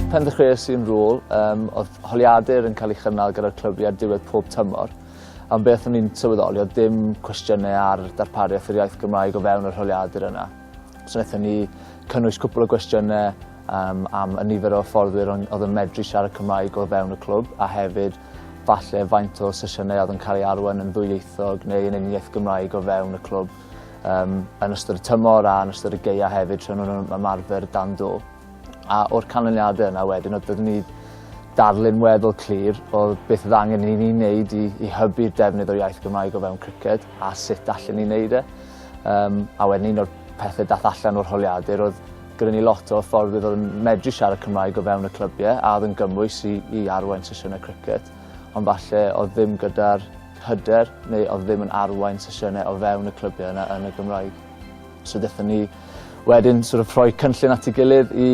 Pen ddechreuais i'n rôl, um, oedd holiadur yn cael ei chynnal gyda'r clybiau ar diwedd pob tymor. Am beth o'n i'n sylweddoli, oedd dim cwestiynau ar darpariaeth yr iaith Gymraeg o fewn yr holiadur yna. So wnaethon ni cynnwys cwpl o gwestiynau um, am y nifer o fforddwyr oedd yn medru siarad Cymraeg o fewn y clwb a hefyd falle faint o sesiynau oedd yn cael ei arwain yn ddwyieithog neu yn uniaith Gymraeg o fewn y clwb. yym yn ystod y tymor a yn ystod y geia hefyd tra nhw'n yn ymarfer dan do. A o'r canlyniade yna wedyn oedd byddwn ni darlun weddol clir o beth oedd angen i ni wneud i, i hybu'r defnydd o'r iaith Gymraeg o fewn criced a sut allan ni wneud e. Um, a wedyn un o'r pethau dath allan o'r holiadur oedd gyda ni lot o ffordd oedd yn medru siarad Cymraeg o fewn y clybiau a oedd yn gymwys i, i arwain sesiynau criced. Ond falle oedd ddim gyda'r hyder neu oedd ddim yn arwain sesiynau o fewn y clybiau yna yn y Gymraeg. So dethon ni wedyn sort of rhoi cynllun at ei gilydd i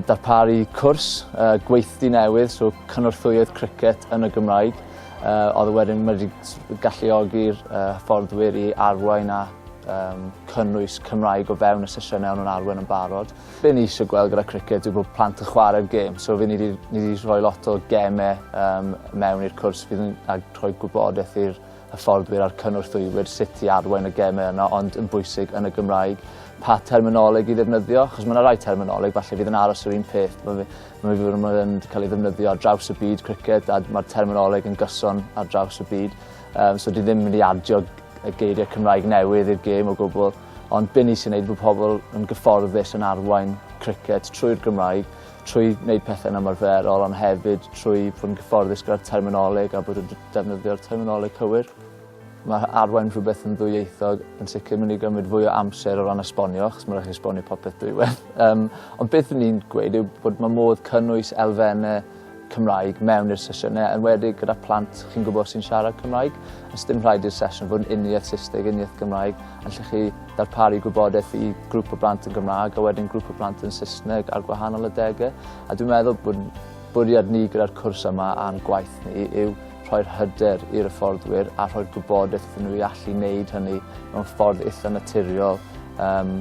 darparu cwrs uh, gweithdy newydd, so cynorthwyydd cricet yn y Gymraeg. Uh, oedd wedyn wedi galluogi'r uh, fforddwyr i arwain a um, cynnwys Cymraeg o fewn y sesiynau o'n nhw'n arwain yn barod. Be ni isio gweld gyda criced yw bod plant yn chwarae'r gêm so fy' ni 'di ni 'di rhoi lot o geme yym mewn i'r cwrs fydd yn ag rhoi gwybodeth i'r hyfforddwyr a'r cynorthwywr sut i arwain y geme yna ond yn bwysig yn y Gymraeg pa terminoleg i ddefnyddio achos ma' 'na rai terminoleg falle fydd yn aros yr un peth ma' fe ma' fe ma' fe'n ca'l ei ddefnyddio ar draws y byd criced a d- ma'r terminoleg yn gyson ar draws y byd yym so dwi ddim mynd i adio y geirie Cymraeg newydd i'r gêm o gwbwl. Ond be ni sy'n neud bod pobl yn gyfforddus yn arwain criced trwy'r Gymraeg, trwy wneud pethau'n ymarferol ond hefyd trwy fod yn gyfforddus gyda'r terminoleg a bod yn defnyddio'r terminoleg cywir. Mae arwain rhywbeth yn ddwyieithog yn sicr mynd i gymryd fwy o amser o ran esbonio, achos mae'n rhaid esbonio popeth dwywaith. Um, ond beth ni'n gweud yw bod mae modd cynnwys elfennau Cymraeg mewn i'r sesiynau, enwedig gyda phlant chi'n gwybod sy'n siarad Cymraeg. Os dim rhaid i'r sesiwn fod yn uniaith Saesneg, uniaith Gymraeg, allwch chi darparu gwybodaeth i grŵp o blant yn Gymraeg a wedyn grŵp o blant yn Saesneg ar gwahanol adegau. A dwi'n meddwl bod bwriad ni gyda'r cwrs yma a'n gwaith ni yw rhoi'r hyder i'r hyfforddwyr a rhoi'r gwybodaeth iddyn nhw i allu wneud hynny mewn ffordd eitha naturiol um,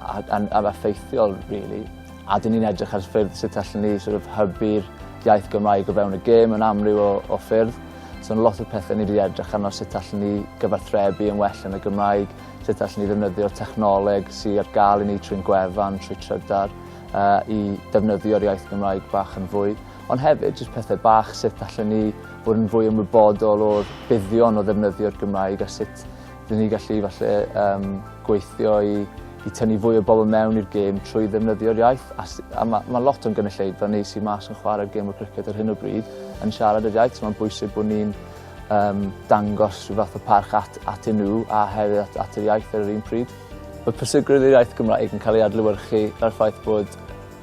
a, a, a effeithiol, really. A dyn ni'n edrych ar ffyrdd sut allan ni sort of, hybu'r iaith Gymraeg o fewn y gêm yn amryw o, o ffyrdd. So, lot o pethau ni wedi edrych arno sut allan ni gyfathrebu yn well yn y Gymraeg, sut allan ni ddefnyddio'r technoleg sy'n ar gael i ni trwy'n gwefan, trwy trydar, uh, i defnyddio'r iaith Gymraeg bach yn fwy. Ond hefyd, jyst pethau bach sut allan ni fod yn fwy ymwybodol o'r buddion o ddefnyddio'r Gymraeg a sut Bydd ni gallu falle um, gweithio i, i tynnu fwy o bobl mewn i'r gêm trwy ddefnyddio'r iaith. A, a mae ma lot o'n gynulleidfa neu sy'n mas yn chwarae'r gêm o criced ar hyn o bryd yn siarad yr iaith. So mae'n bwysig bod ni'n um, dangos rhyw fath o parch at, at nhw a hefyd at, at yr iaith ar yr un pryd. Mae pwysigrwydd yr iaith Gymraeg yn cael ei adlywyrchu ar ffaith bod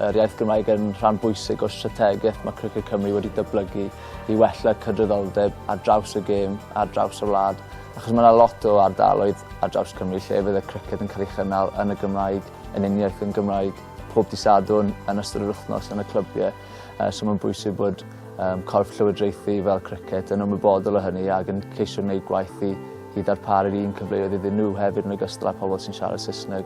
yr iaith Gymraeg yn rhan bwysig o'r strategaeth mae Criced Cymru wedi dyblygu i wella cydraddoldeb ar draws y gêm, ar draws y wlad. Achos mae 'na lot o ardaloedd ar draws Cymru lle fydd y criced yn cael ei chynnal yn y Gymraeg, yn uniaith yn Gymraeg, pob dydd Sadwrn, yn ystod yr wythnos, yn y clybiau. Uh, so mae'n bwysig bod um, corff llywodraethu fel criced yn ymwybodol o hynny ac yn ceisio wneud gwaith i, i ddarparu'r un cyfleoedd iddyn nhw hefyd yn ogystal â pobl sy'n siarad Saesneg.